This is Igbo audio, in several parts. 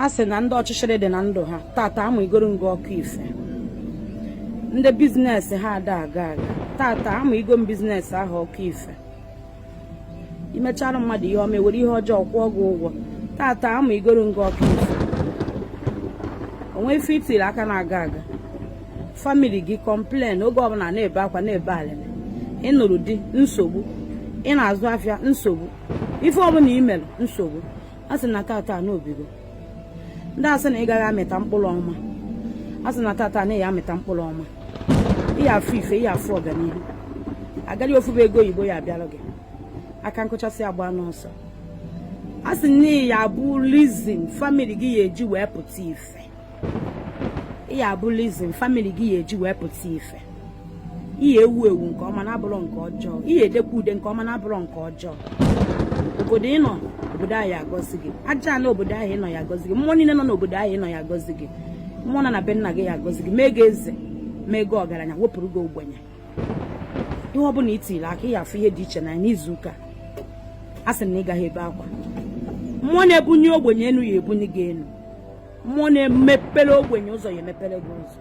a sị na ndị ọchịchịrị dị na ndụ ha tata amụnyegoro m gị ọkụ ife ndị business ha ada aga aga tata amụnyego m business ahụ ọkụ ife i mechara mmadụ ihe ọma e were ihe ọjọọ kwụọ gị ụgwọ tata amụnyegoro m gị ọkụ ife o nwe ife i tiri aka na-aga aga family gị complain oge ọbụla na-ebe akwa na-ebe alịlị ị nụrụ di nsogbu ị na-azụ afịa nsogbu ife ọbụla i mere nsogbu a sị na tata na o bigo ndị a sị na ị gaghị amịta mkpụrụ ọma a sị na tata na ị ya amịta mkpụrụ ọma ị ya afụ ife ị ya afụ ọganihu agaghị ofu ebe ego oyibo ya abịaru gị aka nkụchasị agba n'ọsọ a sị na ị ya abụ reason family gị ya eji wee pụta ife ya abụ reason family gị ya eji wee pụta ife ị ya ewu ewu nke ọma na-abụrọ nke ọjọọ ị ya edekwa ude nke ọma na-abụrọ nke ọjọọ obodo ị nọ obodo ahụ agọzi gị aja ala obodo ahụ ị nọ ya agọzi gị mmụọ niile nọ n'obodo ahụ ị nọ ya agọzi gị mmụọ nọ na be nna gị ya agọzi gị mee gị eze mee gị ọgaranya wepụrụ gị ogbenye ihe ọ bụla i tiri aka ị ya afụ ihe dị iche n'izu ụka a sị na ị gaghị ebe akwa mmụọ na-ebunye ogbenye enu ya ebunye gị enu mmụọ na-emepere ogbenye ụzọ ya emepere gị ụzọ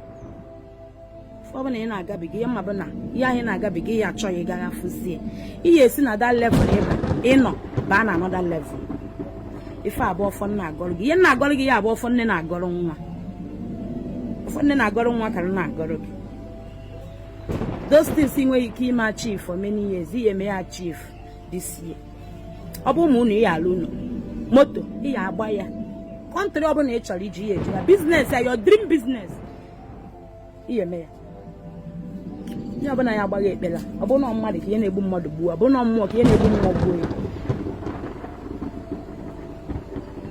ọbụla ị na-agabiga ihe mmadụ na ihe anyị na-agabiga ị ya achọ ya ị gaghị afụzi ya ị ya esi na that level ịba ị nọ baa na another level ife a bụ ọfọ m na-agọrọ gị ihe m na-agọrọ gị ya abụ ọfọ nne na-agọrọ nwa ọfọ nne na-agọrọ nwa ka m na-agọrọ gị those things i nweghị ike ime achieve for many years ị ya eme ya achieve this year ọ bụ ụmụ ụnọ ị ya alụ ụnọ moto ị ya agba ya country ọbụla ị chọrọ ije ị ya eje ya business ya your dream business ị ya eme ya ihe ọbụla ya agba gị ekpela ọ bụ na mmadụ ka ihe na-egbu mmadụ gbuo ọ bụ na mmụọ ka ihe na-egbu mmụọ gbuo ya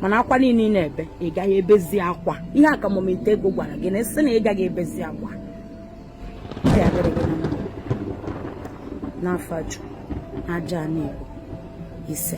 mana akwa niile ị na-ebe ị gaghị ebezi akwa ihe akamomite ego gwara gị na a sị na ị gaghị ebezi akwa ya adịrị gị na mma n'ọfọ ajụ n'aja anị igbo ise